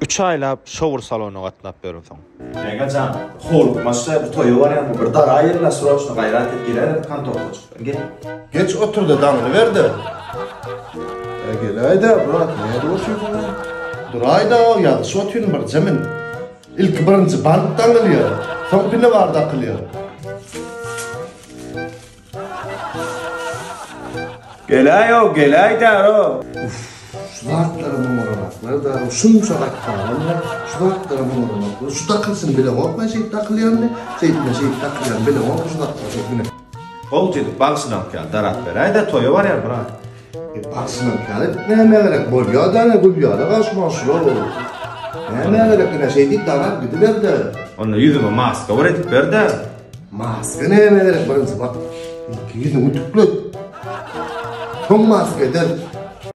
Üç aýlap şowur salona gatnap ýörünsoň. Ýeňňe jan, howlukmaçda bu toýa barýan bir dara ýerine sroçno gaýrat et girerem kontorkaçykdan gel. Geç oturda daňyny berde. Ä gelaýda brat nädip otyryň a? Duraýda ýazyşyp otyryn birje men. Ilki birinji bant daňylýar, soň pine bar dakylýar. Geläýo, geläýdär-o. Uff, şu zatlara muň oramaklar-da, şunça gat galanmy? Şu zatlara muň oramaklar, şu dakylşyny bileňok men şeýdip dakylýanyny, şeýdip men şeýdip dakylýanyny bileňok şu zatlara, şeýdip, ine. Gowy jigit, bagşynyňky ýaly darap beräý-de, toýa barýar, brat. Bagşynyňky ýaly näme gerek, bolýar-da ine Gülýara garşyma şular bolup. Näme gerek ine şeýdip darap gidiber-de. Onda ýüzüme maska bir edip ber-de. Maska näme gerek birinji bak, ilki ýüzüňi tüklet. Soň maska ederis.